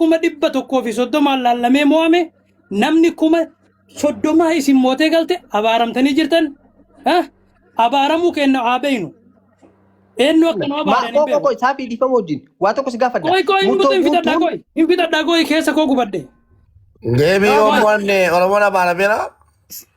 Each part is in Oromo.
kuma dhibba tokkoo fi soddomaan laallamee mo'ame namni kuma soddomaa isin mootee galte abaaramtanii jirtan ah, abaaramuu kenna haa beeynu eenyu akka nu abaaran hin Maakoo beeku koko isaa fi dhiifama wajjin waa tokko si gaafadha. qoy qoy hin Murtoo hin fixadhaa guutuun qoy hin fixadhaa qoy keessa koo gubadde Deebii Oromoon Oromoon Amaara beela.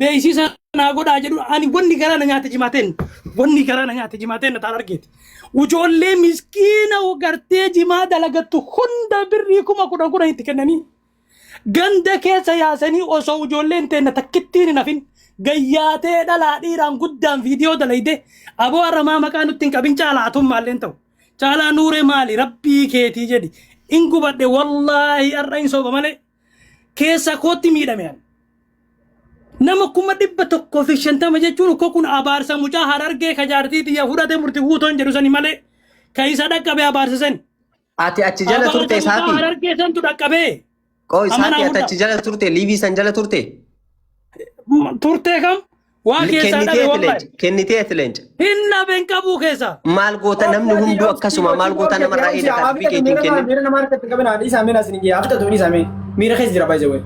beeksisa naa godhaa jedhu ani wanni garaa na nyaate jimaateen wanni garaa na nyaate jimaateen na taal argeeti. Ujoollee miskiina gartee jimaa dalagattu hunda birrii kuma kudhan kudhan itti kennanii ganda keessa yaasanii osoo ujoolleen teenna takkittiin hin hafin gayyaatee dhalaa dhiiraan guddaan viidiyoo dalayde aboo arramaa maqaa nutti hin qabin caalaa atuun maalleen ta'u caalaa nuuree maali rabbii keetii jedhi in gubadhe wallaahi arra in sooba malee Keessaa kootti miidhame ani. Nama kuma dhibba tokkoo fi shantama jechuun ukkoo kun abaarsa mucaa harargee ka jaartii tiyya fudhate murti guutoon jedhu sani malee ka isa dhaqqabe abaarsa sani. Ati achi jala Abaarsa turte mucaa saafi. harargee santu dhaqqabee. Qooy Amma saafi naa ati achi hunda. jala turte liivii san jala turte. M- Turtee kam Waa L- keessaa dhabe Kenniteef wallahi. leenca. Kenniteef leenca. Hin dhabe hin qabuu keessaa. Maal goota namni hunduu akkasuma maal goota namarraa eegata harbii keetiin Miira kennin. miira namaa harkatti qabina haadhi isaa miira isin giyyaa abdatu ni samee miira keessa jira baay'ee wayii.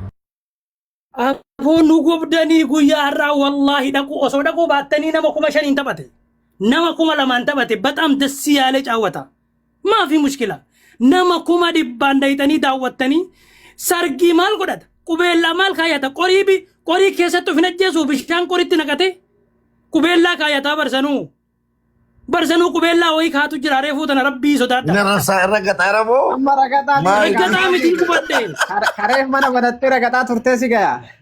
Afoo nu gubdanii guyyaa har'aa wallaahi dhaquu osoo dhaquu baattanii nama kuma shaniin taphate. Nama kuma lamaan taphate baxaam dassi yaalee caawwata. Maafi mushkila nama kuma dhibbaan dayxanii daawwattanii sargii maal godhata qubeellaa maal kaayata qorii bi qorii keessatti of hin ajjeesuu bishaan qoritti naqatee qubeellaa kaayataa barsanuu barsanuu qubeellaa wayii kaatu jira reefuu tana rabbii sodaadha. Inni rarsaa irra gaxaara moo? Amma ragataa Maal? Raggataa mitii gubadhee. Kareef mana banattee ragataa turtee si gayaa.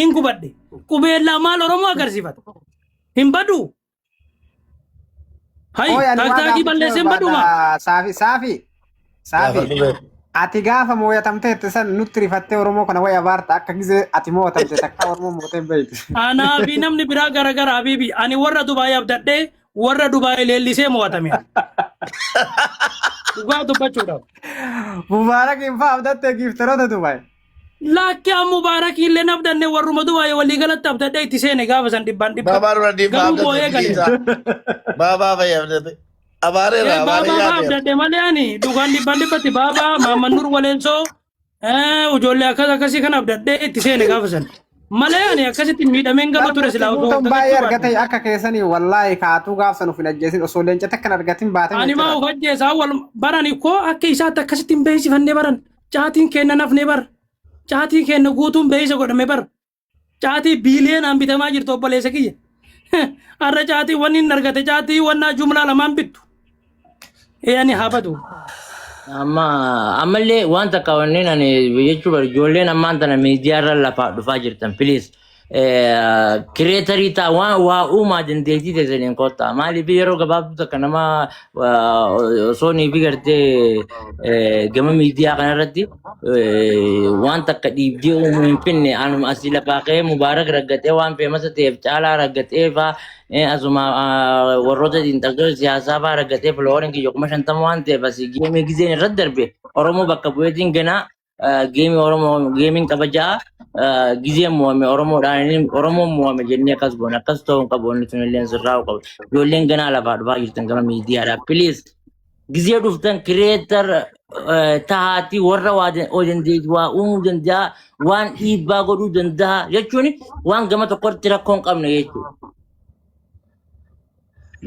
hin gubadhe qubeellaa maal oromoo agarsiifata hin baduu hayi Ooy, ani waa taaktaakii gaafachuu balleessee hin baduu maa barbaada. Saafi, saafi, saafi. Gaafadhu beeku. Ati gaafa mooyatamteetti san nutti rifattee Oromoo kana wayii abaarta akka gizee ati mooyatamte takka Oromoo mootee hin beektu. anaa fi namni biraa garagara habiibi ani warra dubaay abdadhee warra dubaay leellisee mo'atame dhugaa dubbachuudhaaf Mubaarakiin fa'aa abdattee giiftaroota Dubaay. Laakki an Mubaarakii illee naf danne warruma Dubaay walii galatti abdadhee itti seene gaafa san dhibbaan dhibba. Baabaa dura dhiibbaa Garuu abdate booyee galee. dhiisaa. Baabaa fayyee abdate. Abaaree irraa abaaree Baabaa yaadee. abdadhe malee ani dhugaan dhibbaan dhibbatti baabaa Maamman Nur Waleensoo eh, ijoollee akkas akkasii kan abdadhee itti seene gaafa san. Malee ani akkasitti miidhameen gaba ture silaa osoo Guutuun baay'ee gaggachuu argate baadhe. akka keessanii wallaahi kaatuu gaaf san of hin ajjeesin osoo leenca takkan argatin baatan Ani maa jechuudha. of ajjeesaa wal barani koo akka isaatti akkasitti hin beeksifannee baran. Caatiin keenna nafne bar. Caatiin keenna guutuun beeysa godhame bar. Caatii biiliyoonaan bitamaa jirtu obboleessa kiyya. Arra caatii wanni hin argate caatii wannaa jumlaa lamaan bittu. Eeyani haa badu. Amma ammallee waan takka wanneen ani jechuu bar ijoolleen ammaan tana miidiyaarra lafaa dhufaa jirtan please. kireetarii ta'a waan waa uumaa dandeettii teessaniin kottaa maaliif yeroo gabaabduu takka nama osoo ni fi gartee gama miidiyaa kanarratti waan takka dhiibdee uumuu hin finne anuma asii lafaa ka'ee mubaarak raggatee waan feemasa ta'eef caalaa raggatee faa asuma warroota xiinxaltoota siyaasaa faa raggatee filoorin kiyya kuma shantama waan ta'eef asii geemee gizeen irratti darbe oromoo bakka bu'eetiin ganaa geemii Oromoo geemiin kabajaa gizeen mo'ame Oromoodhaan Oromoon mo'ame jennee akkas goone akkas ta'uu hin qabu inni sun illee sirraa'uu qabu. Ijoolleen ganaa lafaa dhufaa jirtan gama miidiyaadhaa please gizee dhuftan kireetar tahaatii warra waa dan- oo dandeetti waa uumuu danda'a waan dhiibbaa godhuu danda'a jechuun waan gama tokkotti rakkoo hin qabne jechuudha.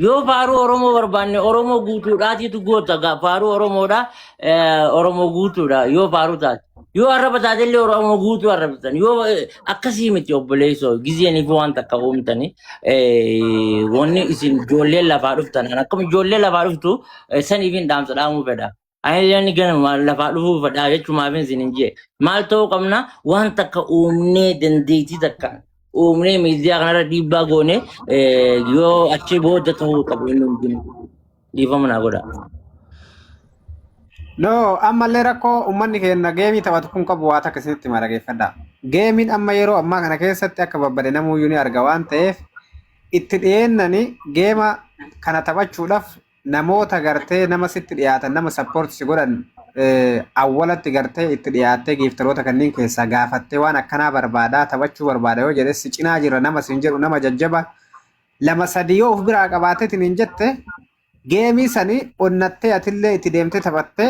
Yoo faaruu Oromoo barbaanne Oromoo guutuudhaatiitu goota gaa faaruu Oromoodha eh, Oromoo guutuudha yoo faaruu taate. Yoo arraba taate illee Oromoo guutuu arrabsitan yoo eh, akkasii miti obboleessoo gizeeniif waan takka uumtani eh, wanni isin ijoolleen lafaa dhuftan akkuma ijoollee lafaa dhuftu eh, saniif hin dhaamsa dhaamuu fedha. Ayyaanni ganama lafaa dhufuu fadhaa jechuun maaf isin hin jee. Maal ta'uu qabna waan takka uumnee dandeettii takka uumnee miidiyaa kanarra dhiibbaa goone eh, yoo achi booda ta'uu qabu inni hundinuu. Dhiifama naa godha. No, ammallee rakkoo uummanni keenya geemii taphatu kun qabu waa takka isinitti hima dhageeffadha. Geemiin amma yeroo ammaa kana keessatti akka babbade namuuyyuu ni arga waan ta'eef itti dhiyeennani geema kana taphachuudhaaf namoota gartee nama sitti dhiyaatan nama support si godhan awwalatti gartee itti dhiyaattee giiftaroota kanneen keessaa gaafattee waan akkanaa barbaadaa taphachuu barbaada yoo jedhe si cinaa jira nama siin jedhu nama jajjaba lama sadii yoo of biraa qabaateetiin hin jette geemii sanii onnattee atillee itti deemtee taphattee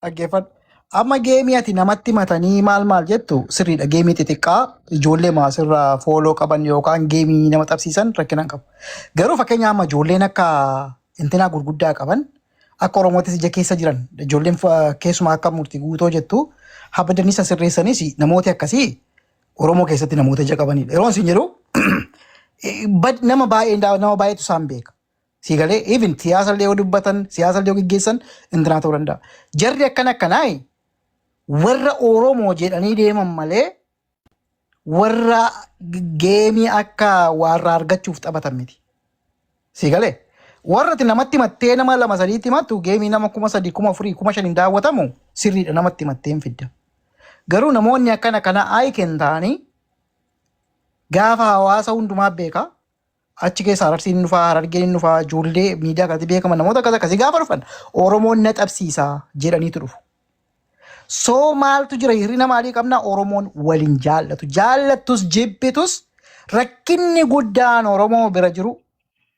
Dhaggeeffadhu. Amma geemii ati namatti matanii maal maal jettu sirriidha. Geemii xixiqqaa ijoollee maasirraa fooloo qaban yookaan geemii nama tapsiisan rakkinaan qabu. Garuu fakkeenya amma ijoolleen akka intinaa gurguddaa qaban akka Oromootis ija keessa jiran ijoolleen fa- keessumaa akka murtii guutoo jettu habadanii isa sirreessanis namooti akkasii Oromoo keessatti namoota ija qabanidha. Yeroo isin jedhu bad- nama baay'ee nama baay'eetu isaan beeka. Sii galee even siyaasa illee yoo dubbatan siyaasa illee yoo geggeessan intinaa ta'uu danda'a. Jarri akkana akkanaa warra Oromoo jedhanii deeman malee warra geemii akka warra argachuuf taphatan miti. Sii galee warra ati namatti himattee nama lama sadiitti himattu geemii nama kuma sadii kuma afurii kuma shaniin daawwatamu sirriidha namatti himattee hin fidda. Garuu namoonni akkana kana ayiken ta'anii gaafa hawaasa hundumaa beeka Achi keessa Ararsiin hin dhufaa, Harargeen hin dhufaa, ijoollee miidiyaa kanatti beekaman namoota akkas akkasii gaafa dhufan Oromoon na dhabsiisa jedhaniitu dhufu. Soo maaltu jira hir'ina maalii qabna Oromoon waliin jaallatu. Jaallattus jibbitus rakkinni guddaan Oromoo bira jiru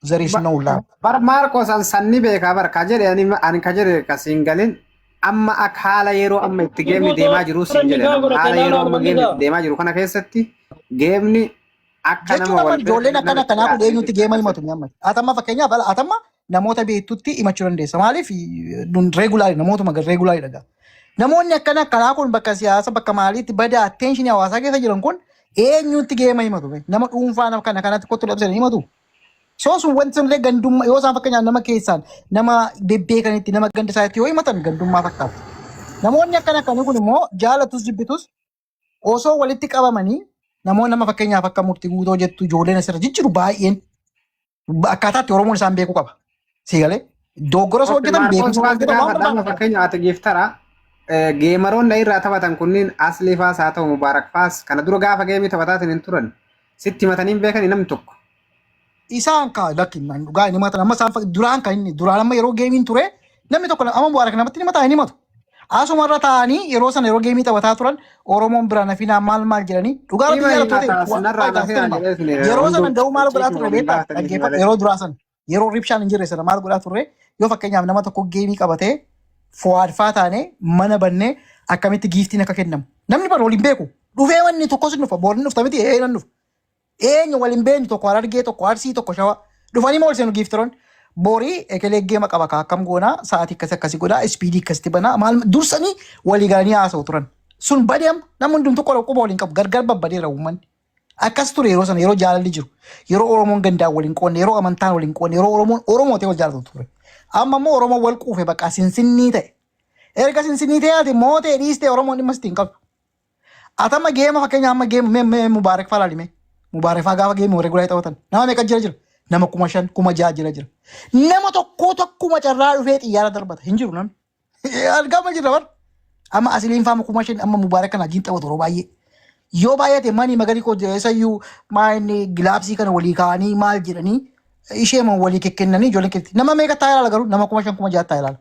there is no love. Bar Maarqos an sanni beekaa bar ka jedhe ani ani ka jedhe ka siin galin amma akka haala yeroo amma itti geemni deemaa jiru siin jedhe haala yeroo amma geemni itti deemaa jiru kana keessatti geemni Akka Jechuun nama amma wal bira ijoolleen kan akkana namatti akkanaa kun dhiyaatanii eenyutti jechaa geema himatu keessatti. mi'amma. Atamma fakkeenyaaf ala atamma namoota beektutti himachuu dandeessa. Maaliif nun reegulaari namootuma gad reegulaari dhagaa. Namoonni akkana akkanaa kun bakka siyaasa bakka maaliitti bada atteenshinii hawaasaa keessa jiran kun eenyutti geema himatu. bee? Nama dhuunfaa nama kana kanatti kottu labsan himatu. Soo sun wanti sun illee gandummaa yoo isaan fakkeenyaaf nama keessaan nama bebbeekanitti nama ganda isaatti yoo himatan gandummaa fakkaata. Namoonni akkana akkanii kun immoo jaalatus jibbitus osoo walitti qabamanii namoonni nama fakkeenyaaf akka murti guutoo jettu ijoolleen asirra jijjiru baay'een akkaataatti Oromoon isaan beekuu qaba. Siigalee dogoggora osoo hojjetan beekumsa waan jedhamu waan barbaadu. Fakkeenya ati giftara geemaroonni irraa taphatan kunniin aslii faas haa ta'u mubaarak faas kana dura gaafa geemii taphataatiin hin turan sitti himatanii hin beekani namni tokko. isaan kaa lakki nan dhugaa hin himatan amma isaan fak- duraan kan inni duraan amma yeroo geemiin ture namni tokko amma bu'aara kan namatti hin himataa hin himatu. Asuma irra taa'anii yeroo sana yeroo geemii taphataa turan Oromoon biraan hafinaa maal maal jedhanii dhugaa rabbi Hima jaalattoota himataa waan sinarraa faayidaa nafee sitti hima. jedhee suni Yeroo sana hunduu da'uu maal godhaa ciisuma turre waliin beektaa baatanii dhaggeeffadhu malee. yeroo duraa sana yeroo ribshaan hin jirre sana maal godhaa turre yoo fakkeenyaaf nama tokko geemii qabatee fo'aadfaa taanee mana bannee akkamitti giiftiin akka kennamu namni bara waliin beeku dhufee wanni tokkos hin dhufa boolni dhufta miti ee nan dhufa Eenyu wal hin beeknu tokko Harargee tokko Arsii tokko Shawa dhufanii ma ol seenu giiftiroonni. Borii ekelee geema qaba kaa akkam goonaa sa'aatii akkasi akkasi godhaa ispiidii akkasitti banaa maal dursanii walii galanii haasa'u turan. Sun badee amma namni hundumtu qola quba waliin qabu gargar babbadeera uummanni. Akkas ture yeroo sana yeroo jaalalli jiru yeroo Oromoon gandaan wal hin qoonne yeroo amantaan wal hin qoonne yeroo Oromoon Oromoo ta'e wal jaalatu ture. Amma immoo Oromoon wal quufe baqaa sinsinnii ta'e. Erga sinsinnii ta'e ati mootee dhiistee Oromoon dhimma sitti hin qabu. Ati amma geema fakkeenya amma geema mee mee Mubaarak faa laali mee. Mubaarak faa gaafa geema warri gulaa taphatan. Nama meeqa jira jira? Nama kuma shan kuma ja'a jira jira. Nama tokkoo tokkuma carraa dhufee xiyyaara darbata hin jiru namni. Argama jira bar. Amma asiliin faama kuma shan amma Mubaarak kana wajjin taphatu yeroo baay'ee. Yoo baay'ate manii magarii koo jira isayyuu maa inni gilaabsii kana walii kaa'anii maal jedhanii ishee moo walii kekkennanii ijoollee keetti. Nama meeqa taa'ee ilaala garuu nama kuma shan kuma ja'a taa'ee ilaala.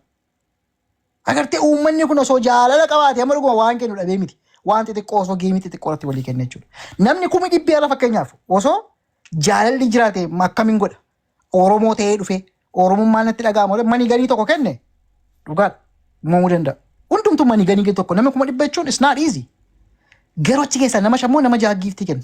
Agartee uummanni kun osoo jaalala qabaate amma dhuguma waan kennu dhabee miti. Waan xixiqqoo osoo geemii xixiqqoo irratti walii kenna jechuudha. Namni kumi dhibbi ala fakkeenyaaf osoo jaalalli jiraate akkamiin godha? Oromoo ta'ee dhufee Oromummaan natti dhaga'ama malee mani ganii tokko kenne dhugaadha. Uumamuu danda'a. Hundumtuu mani ganii tokko nama kuma dhibba jechuun is not easy. Garuu achi keessaa nama shan moo nama jaha giiftii kenne?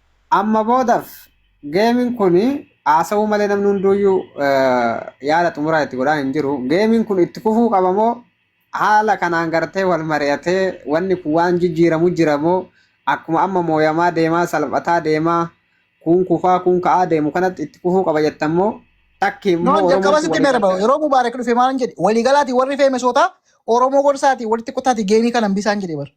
Amma boodaf geemin kun haasawuu malee namni hunduuyyuu yaada xumuraa itti godhaa hin jiru. Geemin kun itti fufuu qaba moo haala kanaan gartee wal mari'atee wanni kun waan jijjiiramu jira moo akkuma amma mooyamaa deemaa salphataa deemaa kuun kufaa kuun ka'aa deemu kanatti itti fufuu qaba jettan moo Takki immoo Noon jalqaba Oromoon sitti walii meerba galtee. yeroo Mubaarak dhufe maal jedhe waliigalaati warri feemesootaa Oromoo gorsaati walitti kutaati geemii kana hambisaan jedhe bar.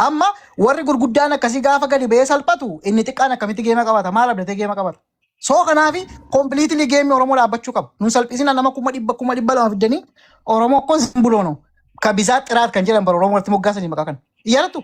Amma warri gurguddaan akkasii gaafa gadi ba'ee salphatu inni xiqqaan akkamitti geema qabata maal abdatee geema qabata. Soo kanaafi kompiliitilii geemii Oromoo dhaabbachuu qaba. Nun salphisina nama kuma dhibba kuma dhibba lama fiddanii Oromoo kun simbuloono ka bisaa xiraat kan jedhan bara Oromoo irratti moggaasanii maqaa kana. Yaadatu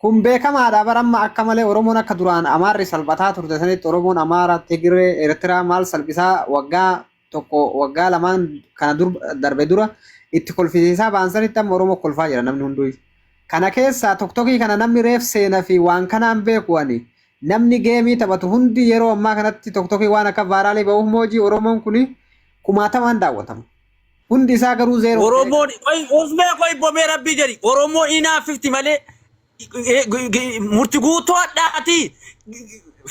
Kun beekamaadha bar amma akka malee Oromoon akka duraan Amaarri salphataa turte sanitti Oromoon Amaara, Tigiree, Eertiraa maal salphisaa waggaa tokko waggaa lamaan kana dur darbe dura itti kolfisiisaa ba'an sanitti amma Oromoo kolfaa jira namni hunduu. Kana keessaa toktokii kana namni reef seena fi waan kanaan beeku ani namni geemii taphatu hundi yeroo ammaa kanatti toktokii waan akka vaaraalii ba'uuf moojii Oromoon kuni kumaatamaan daawwatama. Hundi isaa garuu zeeroo. Oromoon qoy ufmee qoy bomee rabbii jedhi Oromoo inaaffifti malee eh, g- g- murti guutuu hadhaati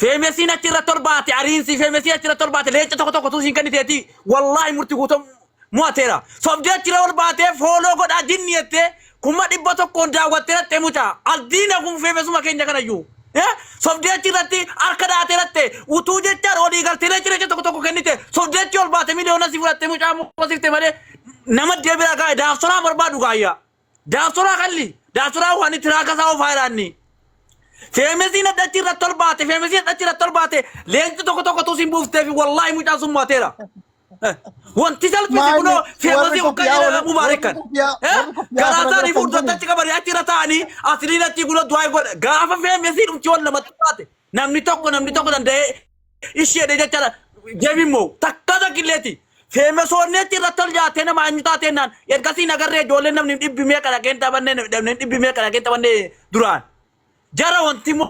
feemesiin achi irratti ol baate ariinsi feemesiin achi irratti ol baate leenca tokko tokko tuusiin kenniteeti wallaahi murti guutuu mo'ateera sobdee achi irra ol baatee fooloo godhaa jinni jettee Kuma dhibba tokkoon daawwattee lattee mucaa aldiina gunfeefe suma keenya kanayyuu. Sobdee achi irratti harka dhaatee latte utuu jechaan olii galteelee cireecha tokko tokko kennite sobdee achi ol baate miliyoona si fudhatte mucaa moosifte malee nama deebira gaa'e daafsoraa barbaadu gaayyaa. Daafsoraa kalli daafsoraa waan itti raaka isaa ofaa ilaanni. Feemesiin adda achi irratti ol baate feemesiin adda achi irratti ol baate leenci tokko tokko tuu siin buufteefi wallaahi mucaan sun mo'ateera. Wanti salphise Maali? kunoo Warri feemazii hoggaa koppiyaa jedhee waliin- dhabuu baarikan. warri koppiyaa- warri koppiyaa Garaa kana isaanii irratti fuuldurratti achi qabanii achi irra taa'anii asliin achi kunoo du'aa hin godha. Gaafa feemezii dhumti wal lamatti taate namni tokko namni tokko danda'ee isheedhe jechaadha. Deebiin moo takka takkilleeti. Feemesoonni achi irratti ol jaatee nama eenyu taatee naan ergasii nagarree ijoolleen namni dhibbi meeqa dhaqeen taphannee namni dhibbi meeqa dhaqeen taphannee duraan. Jara wanti moo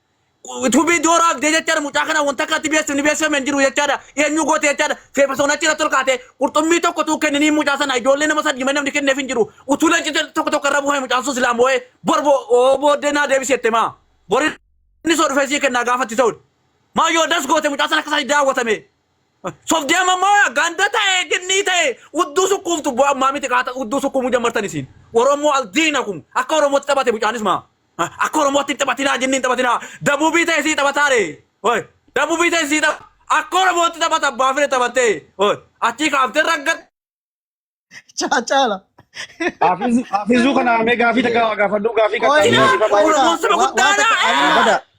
Tubii dooraa fidee jechaadha mucaa kana wanta akka itti beeksifni ni beeksifame hin jiru jechaadha eenyu goote jechaadha feefasoon achi irratti ol kaatee qurxummii tokko tuu kenniniin mucaa sana ijoollee nama sadii malee namni kenneef hin jiru utuu leenci tokko tokko irra buufame mucaan sun silaa moo'ee bor booddee naa deebisi jette maa bor inni soo dhufee sii kennaa gaafatti ta'udha maa yoo das goote mucaa sana akka isaa daawwatame sobdee amma maa ganda ta'e ginnii ta'e udduu sukkuuftu bu'aa ammaa miti qaata udduu sukkuumuu jammartan isiin oromoo aldiinakum akka oromootti taphate mucaanis maa Akka Oromootti hin taphatinaa jinni hin taphatinaa. Dabuubii ta'e sii taphataare. Hooy. Dabuubii ta'e sii tapha. Akka Oromootti taphata abbaa fire taphattee. Hooy. Achii kaaftee raggatte. Caala. Hafizu hafizu kana me gafi ta gawa gafa du gafi ka Oi, ta Ina, gafi fa oi, ba. Oromoon saba Wa- guddaadha. waan takka- Ina. Abada.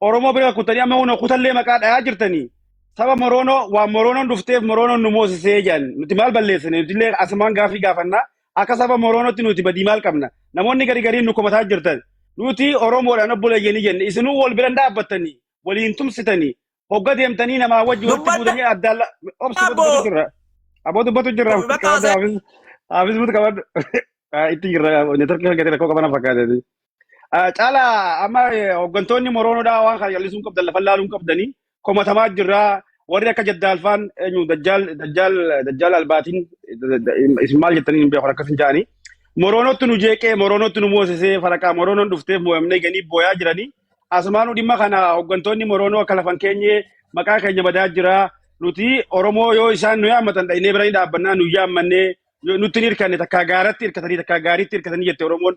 Oromoo bira kuttanii amma hunda kutallee maqaa dhayaa jirtanii. Saba Moroonoo waan Moroonoon dhufteef Moroonoon nu moosisee jedhan. Nuti maal balleessine? Nuti illee asumaan gaaffii gaafannaa. Akka saba Moroonootti nuti badii maal qabna? Namoonni gari gariin nu komataa jirtan. Nuti Oromoodhaan obbo Layyanii jenne. Isinuu wal bira hin dhaabbattanii, waliin tumsitanii, hogga deemtanii namaa wajji walitti Dubbadha buutanii addaan la- obsi dubbatu abbo. dubbatu jirra. Aboo dubbatu jirra. Bakka Qabadda haasa'e. haafis haafis butu qabadda. Itti jirra. Neetworkii hojjetee rakkoo qabana fakkaatee. Ah, Caalaa amma eh, hooggantoonni Moroonodhaa waan kana jallisuun qabdan lafa laaluun qabdanii komatamaa jirraa warri akka jaddaalfaan eenyu dajjaal dajjaal dajjaal albaatiin da- da- isin maal jettanii hin beekan akkas hin ja'anii Moroonottu nu jeeqee Moroonottu nu moosisee faraqaa Moroonoon dhufteef mo'amnee ganii booyaa jiranii asumaanuu dhimma kana hooggantoonni Moroonoo akka lafan keenyee maqaa keenya badaa jiraa nuti Oromoo yoo isaan nu yaammatan dhaqnee biranii dhaabbannaa nu yaammannee yoo nutti hin hirkanne takkaa gaaratti hirkatanii takkaa gaariitti hirkatanii jette Oromoon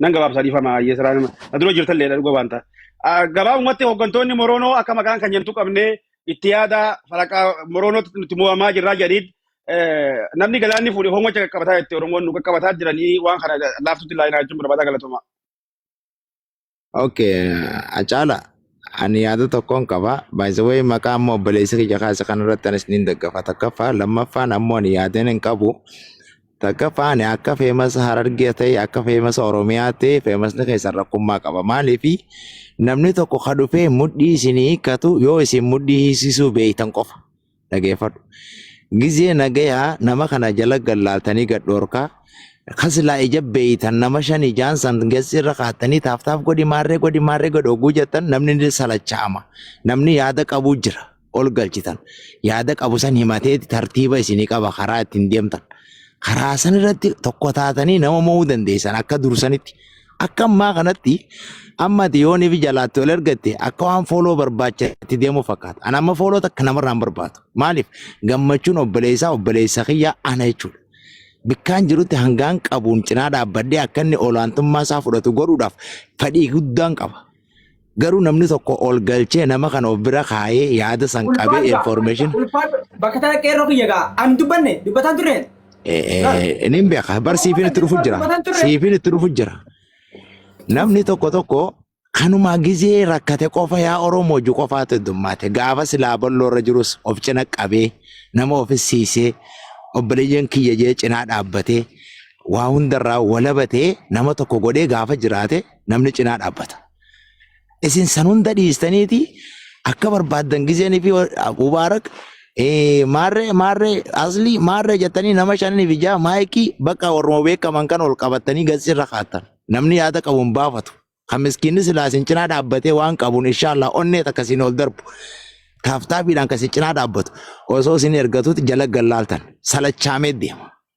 Nan gabaabsa dhiifama hayyee siraa nama. Na dura jirtan leedha dhuga waan ta'a. Gabaabumatti hooggantoonni Moroonoo akka maqaan kan jentu qabnee itti yaada faraqaa Moroonootti nuti mo'amaa jirraa jedhiid namni galaanni fuudhe hongocha qaqqabataa jetti Oromoon nu qaqqabataa jiranii waan kana laaftutti ilaalinaa jechuun barbaadaa galatoomaa. Okay, Acaala ani yaada tokkoon qaba. By the way maqaa ammoo obboleessa kiyya kaase kanarratti anis niin daggafa. Takkaffaa lammaffaan ammoo ani yaadeen hin qabu. Takkaffaa ani akka feemasa harargee ta'e akka feemasa oromiyaa ta'e feemasni keessan rakkummaa qaba. Maaliif namni tokko ka dhufee mudhii isinii hiikkatu yoo isin mudhii hiisisuu beeytan qofa. dhageeffadhu. Gizee nagayaa nama kana jala gallaaltanii gad dhoorkaa kasilaa ija beeytan nama shan ijaan san gessi irra kaattanii taaftaaf godhi maarree godhi maarree godhi oguu jettan namni ni salachaama. Namni yaada qabuu jira ol galchitan. Yaada qabu san himateeti tartiiba isinii qaba karaa ittiin deemtan. Karaa san irratti tokko taatanii nama mo'uu dandeessan akka dursanitti. Akka ammaa kanatti amma ati yoonii fi jalaatti ol ergatte akka waan fooloo barbaacha itti deemuu fakkaata. Ani amma fooloo takka namarraa hin barbaadu. Maaliif? Gammachuun obboleessaa obboleessa kiyyaa ana jechuudha. Bikkaan jirutti hangaan qabuun cinaa dhaabbadhee akka inni olaantummaa isaa fudhatu godhuudhaaf fedhii guddaan qaba. Garuu namni tokko ol galchee nama kana of bira kaayee yaada san qabee Ulfaadha. information Ulfaadha. Bakka tana qeerroo kiyya gaa. An dubbanne dubbataan turre. ni beeka bar siifiin itti dhufu jira siifiin itti dhufu jira namni tokko tokko kanumaa gizee rakkate qofa yaa oromoo ju qofaatu heddummaate gaafa silaa balloo irra jirus of cina qabee nama ofisiisee obboleeyyan kiyya jee cinaa dhaabbatee waa hundarraa walabatee nama tokko godhee gaafa jiraate namni cinaa dhaabbata. Isin san hunda dhiistaniiti akka barbaaddan gizeen fi Mubaarak eh, maarree maarree aslii maarree jettanii nama shanii fi jaha maayikii bakka warruma beekaman kan ol qabattanii gatsirra kaattan. Namni yaada qabu hin baafatu. Kan miskiinni silaa isin cinaa dhaabbatee waan qabuun inshaallah onnee takka isin ol darbu. Taaftaafiidhaan kan isin cinaa dhaabbatu osoo isin ergatuutti jala gallaaltan salachaamee deema.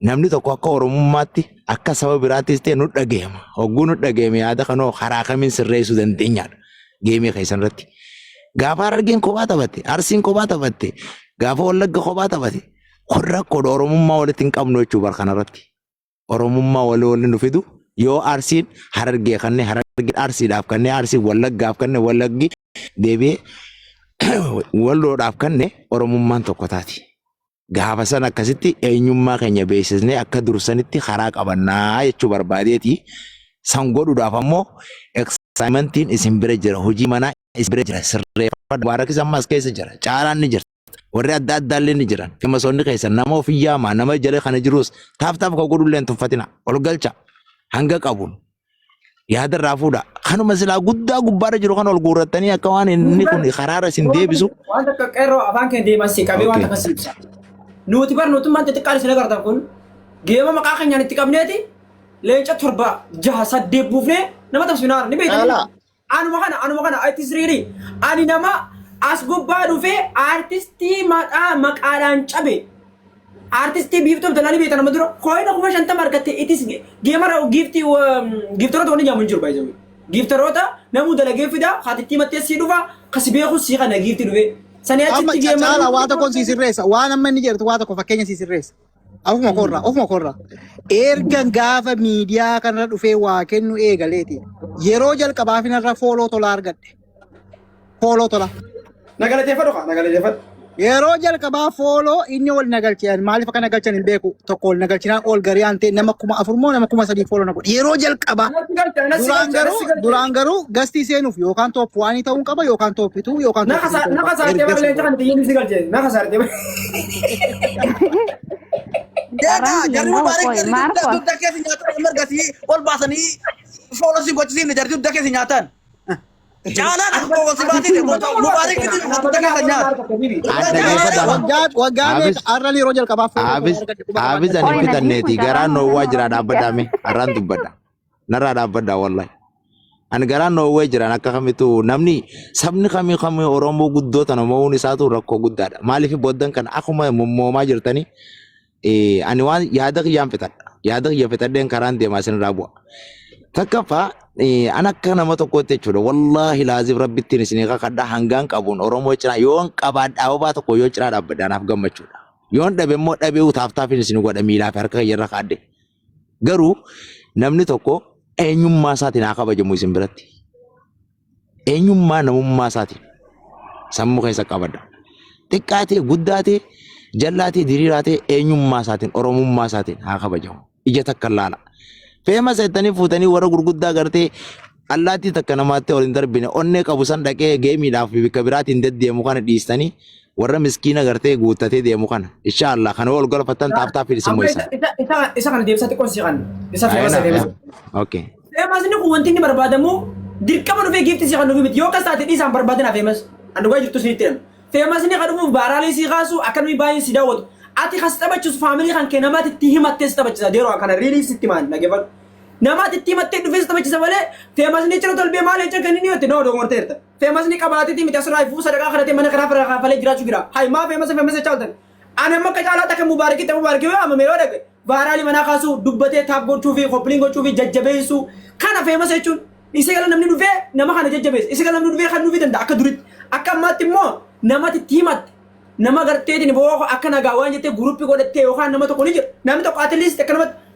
namni tokko akka Oromummaatti akka saba biraattis ta'e nu dhagahama. Hogguu nu dhagahame yaada kanoo karaa kamiin sirreessuu dandeenyaadha geemii keessan irratti. Gaafa Harargeen kophaa taphatte, Arsiin kophaa taphatte, gaafa Wallagga kophaa taphatte kun rakkoodha Oromummaa walitti hin qabnu jechuu bara kanarratti. Oromummaa walii waliin nu fidu yoo Arsiin Harargee kannee Harargeen Arsiidhaaf kannee Arsiin Wallaggaaf kannee Wallaggi deebi'ee walloodhaaf kannee Oromummaan tokko taati. gaafa san akkasitti eenyummaa keenya beeksisnee akka dursanitti karaa qabannaa jechuu barbaadeeti. San godhuudhaaf ammoo eksaayimantiin isin bira jira hojii manaa isin bira jira sirreeffadha. Mubaarakis ammas keessa jira caalaan ni jira. Warri adda addaallee ni jiran femasoonni keessa nama ofii yaamaa nama jala kana jirus taaf taaf kan godhullee hin tuffatina ol galcha hanga qabuun yaada irraa fuudha. Kanuma silaa guddaa gubbaarra jiru kan ol guurrattanii akka waan inni kun karaarra isin deebisu. Waan takka qeerroo afaan keenya deeman si qabee waan Okay. takka si ibsa. Nuti bar nuti maanta xiqqaan isin agartan kun geema maqaa keenyaan itti qabneeti leenca torba jaha saddeet buufnee nama tabsinaa ni beektan. Caalaa. Anuma kana anuma kana artist riirii ani nama as gubbaa dhufee artistii maqaa maqaadhaan cabe artistii biiftuu abdalaa ni beekta nama dura kooyina kuma shantama argatte itis geemara giifti giiftaroota wanni jaamu hin jiru baay'ee giiftaroota namuu dalagee fida haatittii mattee sii dhufa kasi beeku sii kana giifti dhufee sanii Amma achitti geemara caala waa tokkoon sii sirreessa. Waan amma inni jedhu waa tokko fakkeenya sii sirreessa. Ofuma korra, ofuma korra. Ergan gaafa miidiyaa kanarra dhufee waa kennu eegaleeti. Yeroo jalqabaa finarra fooloo tola argadhe. Fooloo tola. Na galateeffadhu kaa na galateeffadhu. Yeroo jalqabaa fooloo inni ol na galche. Maaliif akka na galchan hin beeku. Tokko ol na galchinaan ol garii aantee nama kuma afur moo nama kuma sadii fooloo na godhe. Yeroo jalqabaa. Natti galcha natti Duraan galcha garuu, natti galcha. duraan garuu gastii seenuuf yookaan tooppi waanii ta'uun qaba yookaan tooppituu yookaan Na tooppituu kasa ta'uun na qaba. kasaartee Ergasii barlee booda. kan biyyi si galche na kasaartee. Deegaa jarri mubaarik jarri dugda dugda keessa nyaatan amma ergasii ol baasanii foola si gochisiifne jarri dugda keessa nyaatan. Caalaan akka foola si baasite mubaarik itti dugda keessa nyaata. Waggaa waggaa meeqa har'a yeroo jalqabaaf Haafis ani bitanneeti garaan noowwaa jira dhaabbadhaame har'aan dubbadha. Narraa dhaabbadhaa wallahi. Ani garaa noowwee jiran akka kamitu namni sabni kamii kamii Oromoo guddoo tana mo'uun isaatu rakkoo guddaadha. Maaliif booddan kana akkuma mommoomaa jirtanii eh, ani waan yaada kiyyaan fixadha. Yaada kiyya fixadheen karaan deemaa isinirraa bu'a. Takkaffaa eh, an akka nama tokkootti jechuudha. Wallaahi laazim rabbittiin isinii kakadha hangaan qabuun Oromoo cinaa yoon qabaadhaa obaa tokko yoo cinaa dhaabbadha anaaf gammachuudha. Yoon dhabe immoo dhabee utaaftaafin isin godha miilaa fi harka kiyyarra kaadde. Garuu namni tokko eenyummaa isaatiin haa kabajamu isin biratti. Eenyummaa namummaa isaatiin sammuu keessa qabadha. Xiqqaa ta'e guddaa ta'e jal'aa ta'e diriiraa ta'e eenyummaa isaatiin oromummaa isaatiin haa kabajamu. Ija takka laala. Feema seettanii fuutanii warra gurguddaa gartee Allaattii takka namaatti ol hin darbine onnee qabu san dhaqee geemiidhaaf fi bakka biraatiin deddeemu kana dhiistanii warra miskiina gartee guuttatee deemu kana. Insha Allah kana ol galfattan taaftaa fi isin Amma isa mo'isan. isa- isa- isa kana deebisa xiqqoo si kan isa Ayana, feemasa deebisa. ayana. Okay. Feemas inni kun wanti inni barbaadamu dirqama dhufee giifti si kan dhufi miti yoo kas taate dhiisaan barbaadina feemas an dhugaa jirtu sinitti himu. Feemas inni kan dhufuuf baaraalee si kaasu akkanumii baay'ee si daawwatu. Ati kas taphachisu faamilii kan kee namaatti itti himattee si taphachisa deeroo kana riiliif sitti maal dhaggeeffadhu. Nama ati itti himattee dhufees taphachisa malee feemasni cira tolbee maal jecha kenni niyotti nama dogoorteerta. Feemasni qabaatiti miti asirraa ifuu sadaqaa kadhatee mana kanaa fira kaafalee jiraachuu jira. Hayi maa feemasa feemasa jechaa oltan. Ani amma akka caalaa takka mubaarikii ta'e mubaarikii yoo amame yoo dhaqe vaaraalii manaa kaasuu dubbatee taap gochuu fi koppiliin gochuu fi jajjabeessuu kana feemasa jechuun isa gala namni dhufee nama kana jajjabeessa isa gala namni dhufee kan nuufi danda'a akka duritti akka ammaatti immoo namatti itti himatte nama garteetiin boo akka nagaa waan jettee guruppii godhattee yookaan nama tokko ni jira namni tokko at least akka namatti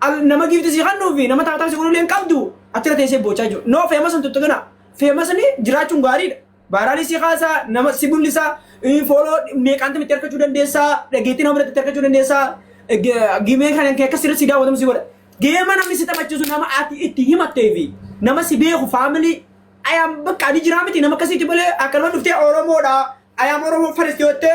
Al nama giifti si kannuu fi nama taataan si godhullee hin qabdu achirra teessee boochaa jiru. No feemasa hin tuttuqina. Feemasni jiraachuun gaariidha. Baaraalii si kaasaa, nama si mul'isaa, fooloo meeqaanti mitti argachuu dandeessaa, dhageettii nama biratti argachuu dandeessaa, gimee kan akka sirri si daawwatamu si godha. Geema namni si taphachiisu nama ati itti himattee fi nama si beeku faamilii ayaan bakka ani jiraa miti nama akkasiitti malee akka nama dhuftee Oromoodha ayaan Oromoo faristi yoo ta'e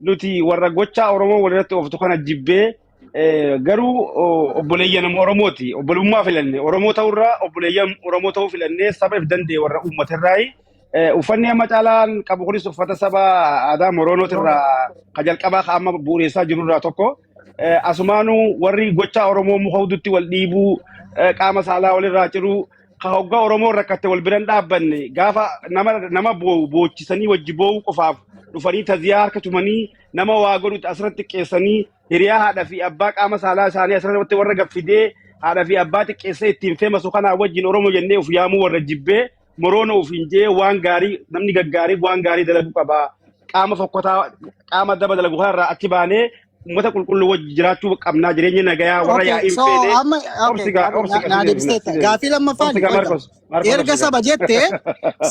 nuti warra gochaa Oromoo walirratti ooftu kana jibbee eh, garuu o- obboleeyyan nama Oromooti. Obbolummaa filanne. Oromoo ta'urraa obboleeyyan Oromoo ta'uu filannee saba if danda'e warra uummaterraayi. Eh, Uffanni amma caalaan qabu kunis uffata saba aadaa Moroonooti irraa ka jalqabaa ka amma bu'uureessaa jirurraa tokko. Eh, Asumaanuu warri gochaa Oromoo muka hudutti wal dhiibuu, eh, qaama saalaa walirraa ciruu, ka hoggaa Oromoo rakkatte wal biran dhaabbanne gaafa nama nama boo'u boochisanii wajji boo'uu qofaaf dhufanii taziyaa harka tumanii nama waa godhutti asirratti xiqqeessanii hiriyaa haadha fi abbaa qaama saalaa isaanii asirratti warra gaffidee haadha fi abbaa xiqqeessee ittiin feemasu kanaa wajjin Oromoo jennee of yaamuu warra jibbee moroona ofiin jee waan gaarii namni gaggaarii waan gaarii dalaguu qaba. Qaama fokkotaa qaama daba dalagu kanarraa achi baanee uummata qulqulluu wajji jiraachuu qabnaa jireenya nagayaa warra Okay, yaa'iin so feene amma okay, obsi gaa obsi na, gaa na si deebifna si deebifteetta. deebifna. Gaafii lammaffaan Obsi gaa wayta Maarkos Maarkos erga obsi gaa. saba jette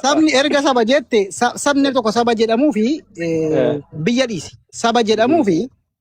sabni erga saba jette sa- sabni tokko saba jedhamuu fi eh, Eh, biyya dhiisi. Saba jedhamuu fi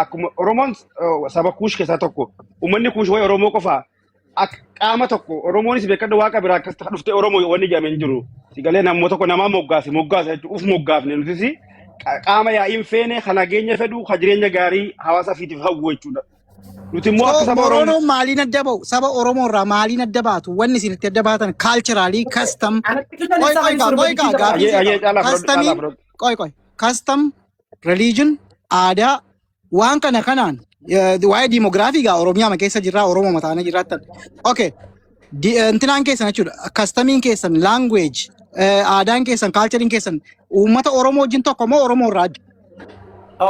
akkuma Oromoon eh, saba kuush keessaa tokko uummanni kuush waa'ee Oromoo qofaa akka qaama tokko Oromoonis beekadha waaqa biraa akkas ta'a dhuftee Oromoo yoo wanni jedhame hin jiru. Sigalee namoota tokko namaa moggaase moggaasa jechuudha uf moggaafne nutis qa- qaama yaa'iin feene kan nageenya fedhu kan jireenya gaarii hawaasa fiitiif hawwu jechuudha. Nuti immoo akka So saba Oromoo Moronoon maaliin adda ba'u? Saba Oromoo irraa maaliin adda baatu? Wanni isin itti adda baatan kaalchiraalii kastam. Anatti kan Qoy isa qoy kan gaa qoy gaa sirbachiisa gaaffii Ayyee sii ayyee qaba. caalaa fudhadhu caalaa Kastamiin fudhadhu. qoy qoy kastam religion, aadaa, waan kana kanaan eh, waa'ee diimogiraafii gaa Oromiyaa keessa jirraa Oromoo mataana jiraattan. Okay. Di- eh, Intinaan keessan jechuudha. Kastamiin keessan, language, eh, aadaan keessan, kaalchariin keessan uummata Oromoo wajjin tokko moo Oromoo irraa adda?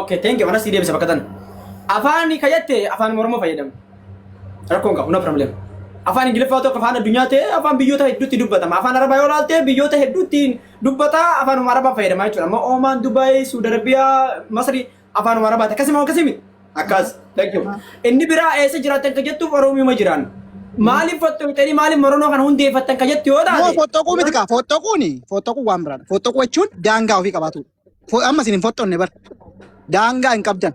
Okay, thank you. Anas deebisa bakka tana. Afaan ka jette afaan Oromoo fayyadamu. Rakkoon qabu, no problem. Afaan Ingiliffaa tokko afaan addunyaa ta'e afaan biyyoota hedduutti dubbatama. Afaan Arabaa yoo ilaalte biyyoota hedduutti dubbataa afaanuma arabaa fayyadamaa jechuudha amma oomaan dubaayii suudi arabiyaa masri afaanuma arabaati akkasima akkasimi akkas thank you inni biraa eessa jiraatan ka jettuuf oromiuma jiraan maaliif fottoqxanii maaliif moronoo kana hundeeffattan ka jettu yoo Moo taate fottoquu miti kaa fottoquuni fottoquu waan biraadha fottoquu jechuun daangaa ofii qabaatu Fo- amma isin hin fottonne bar daangaa hin qabdan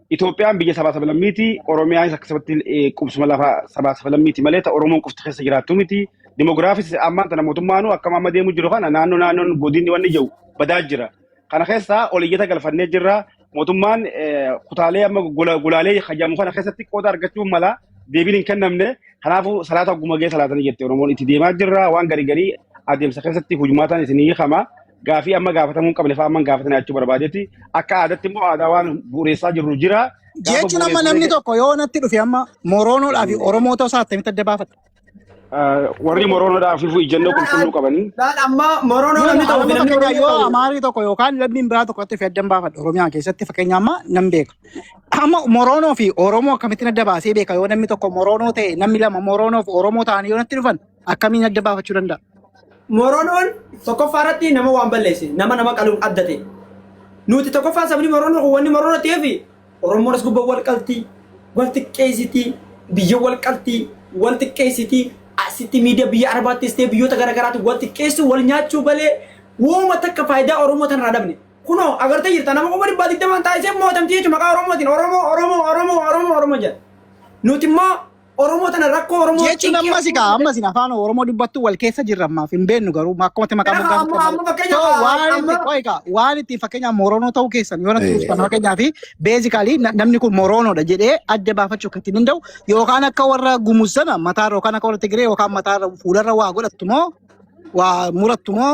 Itoophiyaan biyya sabaa sabalammiiti. Oromiyaanis akka sabatti eh, qubsuma lafa sabaa sabalammiiti malee ta Oromoon qofti keessa jiraattu miti. Dimoogiraafis ammaan tana mootummaanuu akkam amma deemu jiru kana naannoo naannoon godinni wanni jiru badaa jira. Kana keessaa ol iyyata galfannee jirra. Mootummaan eh, kutaalee amma gola- golaalee hajamu kana keessatti qooda argachuu mala deebiin hin kennamne. Kanaafuu salaata ogguma gahee salaatanii jette Oromoon itti deemaa jirra. Waan garii garii adeemsa keessatti hujmaataan isinii hiikama. gaafii amma gaafatamuu hin qabne fa'aa amma hin gaafatne jechuu barbaadeeti. Akka aadaatti immoo aadaa waan bu'uureessaa jirru jira. Gaafa Jechuun amma bu'uureessu namni ta'e tokko yoo natti dhufe amma Moroonoodhaa fi Oromoo ta'uu isaa attamitti adda baafata? warri moroonoodhaa fi ijjannoo Laal qulqulluu qabanii laal amma moroonoo Yoo namni ta'uu fi Oromoo namni fakkeenyaa Oromoo yoo ta'uu. Amaarii tokko yookaan lammiin biraa tokko itti adda baafadha Oromiyaa keessatti fakkeenya amma nan beeka. Amma Moroonoo fi Oromoo akkamittiin adda baasee beeka yoo namni tokko Moroonoo ta'e namni lama Moroonoo fi Oromoo ta'anii yoo natti dhufan Akkamiin adda baafachuu danda'a? Moronoon tokkoffaa irratti nama waan balleesse nama nama qaluun adda ta'e. Nuti tokkoffaa sabni Moronoo kun wanni Moronoo ta'eef Oromoon as gubbaa wal qalti, wal xiqqeessiti, biyya wal qalti, wal xiqqeessiti, asitti miidiyaa biyya Arabaattis ta'e biyyoota garaagaraatti wal xiqqeessu, wal nyaachuu balee wooma takka faayidaa Oromoo tanarraa dhabne. Kunoo agartee jirta nama kuma dhibbaa digdamaan taa'isee mootamti jechuudha maqaa Oromootiin Oromoo Oromoo Oromoo Oromoo Oromoo jedha. Nuti immoo Oromoo tana rakkoo Oromoo jechuun cinqii ammas kaa Oromoo ammas afaan Oromoo dubbattu wal keessa jirra ammaaf hin beennu garuu akkuma maqaa Kanaaf moggaa amma- amma fakkeenyaaf, so waan itti amma- qo'i kaa waan itti fakkeenyaaf Moroonoo ta'uu keessan yoo natti Eh. dhuftan fakkeenyaaf beezikaalii namni kun Moroonoodha jedhee adda baafachuu kan ittiin danda'u yookaan akka warra Gumuz sana mataarra yookaan akka warra Tigiree yookaan mataarra fuularra waa godhattu moo waa murattu moo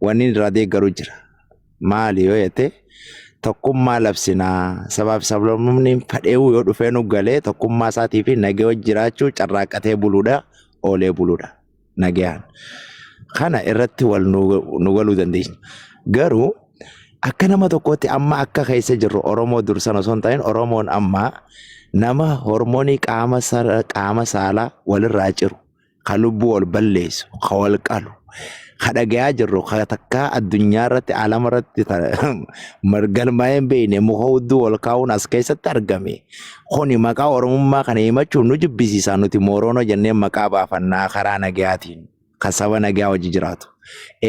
Wanni irraa deeggaru jira. Maali yoo jette tokkummaa labsinaa sabaa fi sablamumni fadheewuu yoo dhufee nu galee tokkummaa isaatii fi nagee wajji jiraachuu carraaqqatee buluudha oolee buluudha nagayaan. Kana irratti wal nu galuu dandeenya. Garuu akka nama tokkootti amma akka keessa jirru Oromoo dursan osoo hin ta'in Oromoon amma nama hormoonii qaama saalaa walirraa ciru ka lubbuu wal balleessu, ka wal qalu, ka dhagayaa jirru, ka takkaa addunyaa irratti alama irratti galmaa'ee hin beekne muka hudduu wal kaa'uun as keessatti argame. Kuni maqaa Oromummaa kana himachuun nu jibbisiisaa nuti Mooroonoo jennee maqaa baafannaa karaa nagayaatiin kan saba nagaa wajji jiraatu.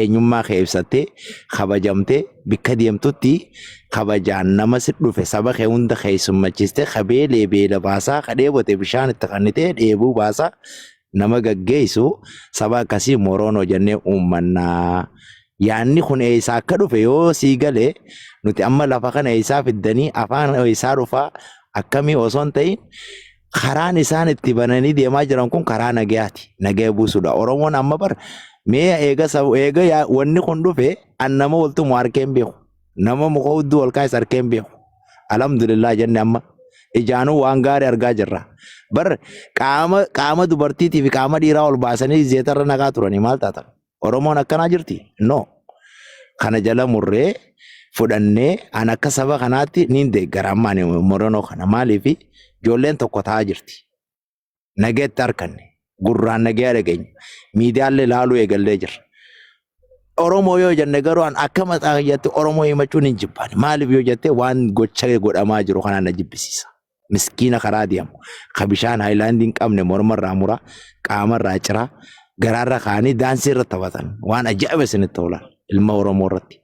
eenyummaa kee ibsattee kabajamtee bikka deemtutti kabajaan nama si dhufe saba kee hunda keessummachiistee ka beelee beela baasaa ka dheebote bishaan itti kannitee dheebuu baasaa nama gaggeessu saba akkasii moroonoo jennee uummannaa. Yaanni kun eessaa akka dhufe yoo sii galee nuti amma lafa kana eessaa fiddanii afaan eessaa dhufaa akkamii osoo hin ta'in karaan isaan itti bananii deemaa jiran kun karaa nagayaati. Nagaya buusuudha. Oromoon amma bar mee eega sabu eega yaa- wanni kun dhufe an nama waltumu harkee hin beeku. Nama muka hudduu wal kaayes harkee hin beeku. Alhamdulillah jenne amma ijaanuu waan gaarii argaa jirra. Bar qaama qaama dubartiitii fi qaama dhiiraa ol baasanii zeetarra naqaa turanii maal taatan? Oromoon akkanaa jirti? No. Kana jala murree fudhannee an akka saba kanaatti niin deeggara amma ani moronoo kana maaliif ijoolleen tokko ta'aa jirti. Nageetti harkanne gurraan nagee dhageenya miidiyaallee laaluu eegallee jirra. Oromoo yoo jenne garuu an akka mataa kiyyaatti Oromoo himachuun hin jibbaani. Maaliif yoo jette waan gocha godhamaa jiru kanaan na jibbisiisa. miskiina karaa deemu ka bishaan haayilaandii hin qabne mormarraa muraa qaamarraa ciraa garaarra kaanii daansii irra taphatan waan ajaa'iba isinitti oolan ilma Oromoo irratti.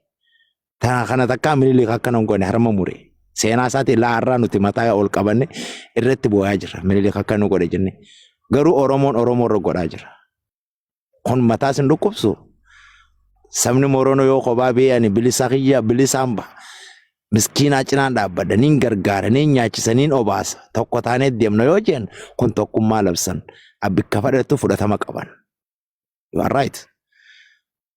Tana kana takkaa Minilik akkana hin goone harma mure. Seenaa isaati ilaa har'aa nuti mataa ol qabanne irratti boo'aa jirra. Minilik akkana godhe jenne. Garuu Oromoon Oromoo irra godhaa jira. kun mataa sin dhukkubsu sabni morono yoo kophaa bee ani bilisaa kiyya bilisaan ba miskiinaa cinaan dhaabbadha niin gargaara niin nyaachisa niin obaasa tokko taanee deemna yoo jeen kun tokkummaa labsan abbikka fadhattu fudhatama qaban you are right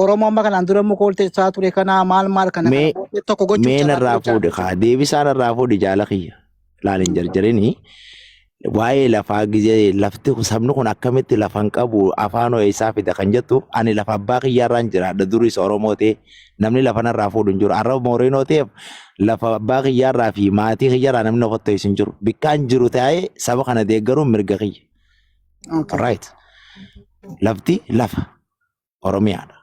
Oromoo amma kanaan dura immoo kooltee isaa ture kanaa maal maal kana kana mee booddee tokko gochuuf mee carraa narraa fuudhe kaa deebisaa narraa fuudhe jaala kiyya laal hin jarjarini waa'ee lafaa gizee lafti kun- sabni kun akkamitti lafa hin qabu afaan hoo eessaa fida kan jettu ani lafa abbaa kiyyaarraan jiraadha duris oromoo ta'e namni lafa narraa fuudhu hin jiru arraba mooreenoo ta'eef lafa abbaa kiyyaarraa fi maatii kiyyaarraa namni of ta'es hin jiru bikkaan jiru ta'ee saba kana deeggaruun mirga kiyya right lafti lafa Oromiyaadha.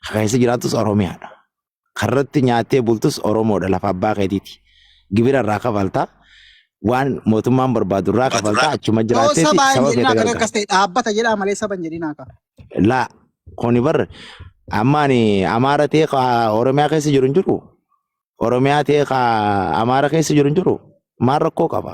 Ka keessa jiraattus Oromiyaadha. Karratti nyaattee bultus Oromoodha lafa abbaa keetiiti. Gibira irraa kafalta. Waan mootummaan barbaadu irraa kafalta achuma Yoo jiraatteeti sabaa hin saba jedhin keetti akka galta. akkas ta'e dhaabbata jedhaa malee saba hin jedhin akka. Laa kuni bar amma ani Amaara ta'e ka Oromiyaa keessa jiru hin jiru. Oromiyaa ta'e ka Amaara keessa jiru hin jiru. Maal rakkoo qaba?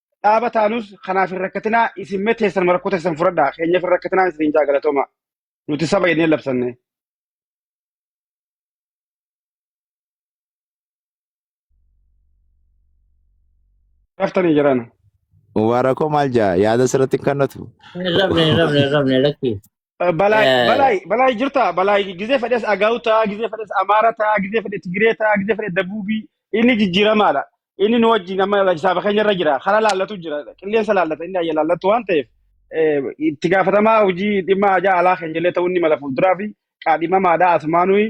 dhaaba taanus kanaaf hin rakkatinaa isin mee teessan marakkoo teessan fudhadhaa keenyaaf hin rakkatinaa isin hin jaagalatooma nuti saba jennee labsanne. Raftanii jiran. Mubaarakoo maal jaa yaada sirratti hin kannatu. Hin rabne, hin rabne, hin rabne, lakki. Balaay, Eh, balaay, balaay jirta. Balaay gizee fedhes Agaw ta'a, gizee fedhes Amaara ta'a, gizee fedhe Tigiree ta'a, gizee fedhe Dabuubii. Inni jijjiiramaadha. Inni nu wajjin amma hisaaba keenya irra jira. Karaa laallatu jira. Qilleensa laallata. Inni ayya laallatu waan ta'eef eh, itti gaafatamaa hojii dhimma ajaa alaa keenya illee ta'uu inni mala fuulduraa fi qaadhimamaadha. Asumaanuu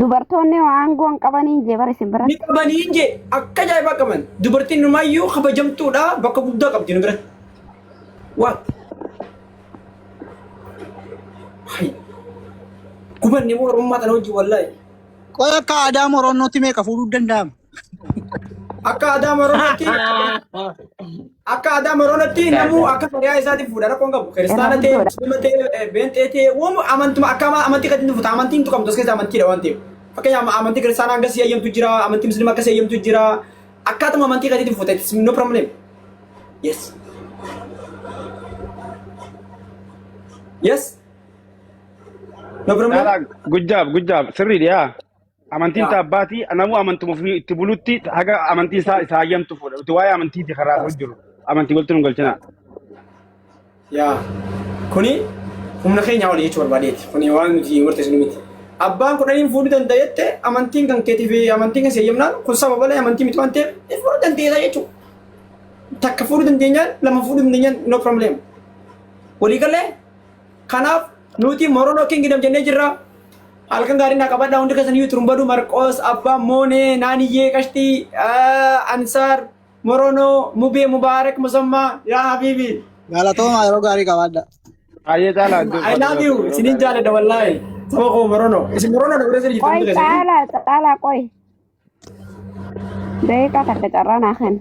Dubartoonni hoo aangoo hin qabanii jee bara isin Ni biratti. qabanii hin jee akka ajaa'ibaa qaban. Dubartiin numayyuu kabajamtuudha bakka guddaa qabdi nu biratti. Waa. Hai. Gubanne moo oromummaa tana wajjin wallaahi. Qoy akka aadaa Moroonnootti meeqa fuudhuu danda'ama? Akka aadaa Moroonatti akka aadaa Moroonatti namuu akka fariyaa isaatiif fuudha rakkoon qabu. Kiristaana ta'e, muslima ta'e, beenxee ta'e, waan amantuma akka ama- amantii kan inni fuuta amantiin hin tuqamtu as keessa amantiidha waan ta'eef. Fakkeenyaaf amantii kiristaanaa hanga si eeyyamtu jira, amantii muslima akka si eeyyamtu jira. Akkaatuma amantii kan inni fuuta it's no problem. Yes. Yes. No problem. Good job, good job. Sirrii dhiyaa. Amantiin isaa abbaati. Namuu amantuma ofii itti bulutti haga amantiin isaa isaa hayyamtu fuudha. Nuti waa'ee amantiiti karaa hin jiru. Amantii walitti nu galchina. Yaa kuni humna keenya olii jechuu barbaadeeti. Kuni waan nuti murteessinu miti. Abbaan kudhaniin fuudhuu danda'etti amantiin kan keetii fi amantiin kan seeyyamnaan kun saba balee amantii miti waan ta'eef ni fuudhuu dandeessa jechuudha. Takka fuudhuu dandeenyaan lama fuudhuu dandeenyaan no problem. Walii galee Kanaaf nuti Morono Kingdom jennee jirra. Halkan gaarii naa qabadhaa hundi keessan iyyuu Turumbaduu, Marqoos, Abbaa, Moonee, Naaniyyee, Qashtii, eh, Ansaar, Morono, Mubee, Mubaarak, Musammaa, yaa Habiibi. Galatoomaa yeroo gaarii qabaadha. Baay'ee caalaa iddoo I love you. Isinin jaaladha wallaahi. Saba koo Morono. Isin Morono dha guddaa isin jirtu Qoy hundi keessan. caalaa caalaa qoy. Daqiiqaa takka carraa naa kenni.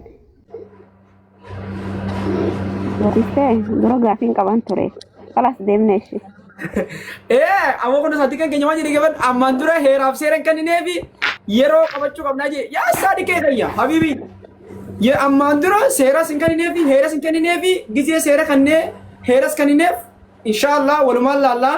Baristee dura gaafiin qaban ture. Kalas deemne ishee. Ee, amma kun isaatti kan keenya waan jedhe gaban ammaan dura heeraaf seera hin kenninee fi yeroo qabachuu qabnaa jedhe. Yaa isaa dhiqee kayya, habibi. Ye ammaan dura seeras hin kenninee fi heeras hin kenninee fi gizee seera kannee heeras kennineef inshaallah walumaan laallaa.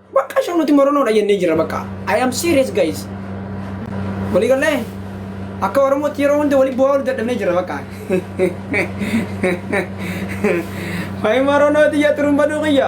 Bakka show nuti moronoodha jennee jirra bakka. I am serious guys. Walii gallee akka Oromootti yeroo hunda walii bu'aa wal dadhabnee jirra bakka. Wayi moronooti yaa xurumba duuqiyya.